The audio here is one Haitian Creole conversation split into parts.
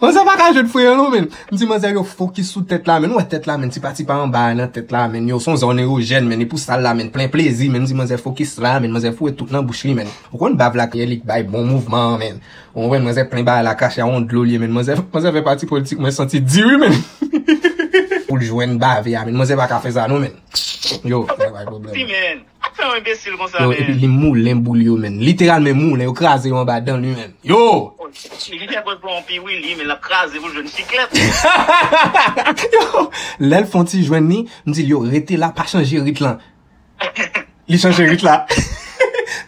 Manzè pa ka jwet freyo non menn. M di manzè yo fokis sou tèt la menn. Ou wè tèt la menn tipa tipa anba a nan tèt la menn. Yo son zòn erojèn menn. Epou sal la menn plen plezi menn. M di manzè fokis la menn. Manzè foure tout nan bouch li menn. Ou konn bav la kiyè li k bay bon mouvman an menn. Ou konprann manzè plen ba a la krache a yon dlo li ye menn. Manzè manzè fè pati politik mwen santi di wi menn. Pou l jwenn bave a menn. Manzè pa ka fè sa non menn. Yo manzè bay pwoblèm. Sak fè yo enbesil konsa men. Yo epi li moulen boul yo menn. Literalmen moulen yo kraze yo anba dan li menm. Yoo. Li fè pòz pran yon pi wi li men lap kraze pou l jwenn chiklèt. Yoo lèl fon ti jwenn li m dil yo rete la pa chanje rit lan. Li chanje rit la.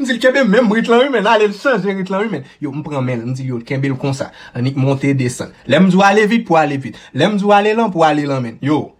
M dil kenbe menm rit lan wi menn ale l chanje rit lan wi menn. Yo m pran menl m dil yo kenbe l konsa annik monte desann. Lèm di w ale vit pou ale vit. Lèm di w ale lan pou ale lan menn. Yoo.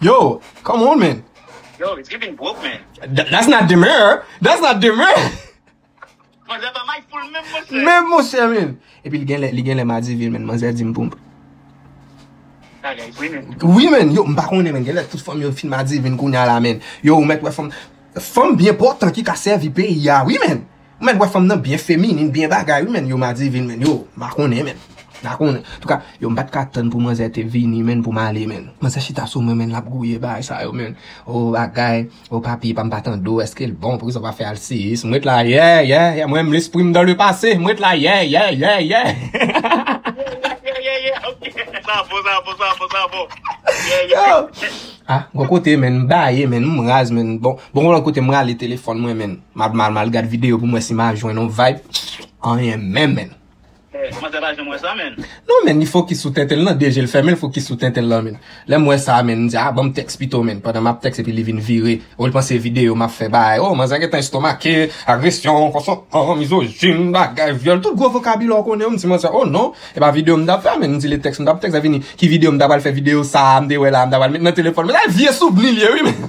Yo, come on man. Yo, it's giving broke man. That's not demeure. That's not demeure. Manzè pa may foul menm monchè. Menm monchè menm. Epi li gen lè, li gen lè madi vil menm. Manzè di m pou m. Bagay vre menm. Oui menm. Yo, m pa konnen menm. Gen lè tout fanm yo fin madi vil kounya la menm. Yo, ou mèt wè fanm. Fanm byen pòtan ki ka sèvi peyi a oui menm. Ou mèt wè fanm nan byen feminin byen bagay wi menn yo madivin menn yo m pa konnen menn m pa konnen antouka yo m pat ka tann pou manzè te vini menn pou m ale menn manzè chita sou mwen menn lap gouye bagay sa yo menn oo bagay oo papye pa m pa tande w eske l bon poukisa w pa fè alsiyis m ret la yèèè ah gon kote menn m baye menn m raz menn bon gon lòt kote m rale telefòn mwen menn. Map mal mal gad video pou m wè si ma jwenn yon vibe anyen menm menn. Hey manzè pa janm wè sa menn. Non menn li fokis sou tenten l nan de je l fèmen l fokis sou tenten l lan menn lè m wè sa menn m di ah banm tèks pito menn pandan map tèks epi li vin vire oh l panse se video map fè bay oh manzè gentan estomake agresyon konsantan mizojin bagay vyòl tout gwo vokabilè w konnen yo m di manzè oh non e pa video m tap fè a menn m di le tèks m tap tèks a vini ki video m ta pral fè video sa a m te wè la a m ta pral met nan telefòn m la vye souvni l ye wi menn.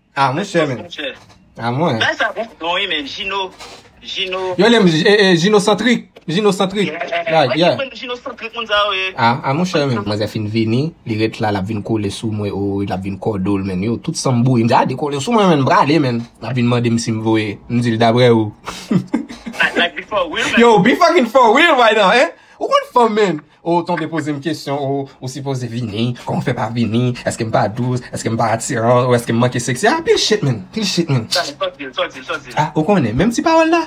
Ah mwen chè men. Ah mwen. Bè sa bon don wi men Gino Gino. Yo lem Gino centric. Gino centric. Like yeah. Mwen Gino centric moun sa yo. Ah ah mwen chè men. Mwen zè fin vini. Li ret la la vin kole sou mwen o la vin kodol men yo tout sam bouyi. Mwen zè a de kole sou mwen men brale men. La vin mande m sim voye. M dil dabre ou. Like before real men. Yo before real right now eh. Ou konn fanm men. Ou tonbe pozem kesyon o ou sipoze vini kòman fè pa vini eskem pa dous eskem pa atiran ou eskem manke sexy ah pil shit man pil shit man ah ou konnen menm ti pawòl la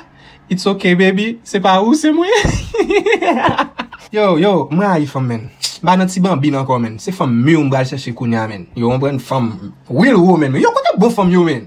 it's ok baby se pa ou se mwen hihihihi yo yo m rayi fanm man m pa nan ti banbin ankò man se fanm mur m pral chèche kounya man yo konprann fanm real woman yo kote bon fanm yo man.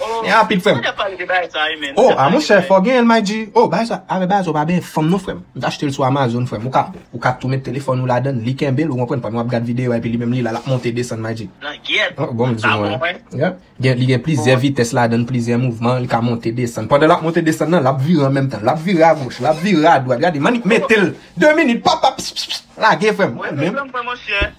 Oh Chen an rapid frèm. Mwen tap pale de bagay sa wi menn. Oh a monchè fòw genyenl MyG. Oh bagay sa avè bagay sa ou pa benyen fanm non frèm. M t achtel sou Amazon frèm. Ou ka ou ka tou met telefòn ou ladann li kenbel ou konprann pandan wap gad video a epi li menm li la lap monte desann MyG. Langyèt. Oh bon m di mwen. Yep. Gen li gen plizyè vitès ladann plizyè mouvman li ka monte desann. Pandan lap monte desann nan lap vire an menm tan. Lap vire a goch lap vire a dwat. Gade m annik metel 2 minit pap pap pss pss lage frèm. Mwen menm.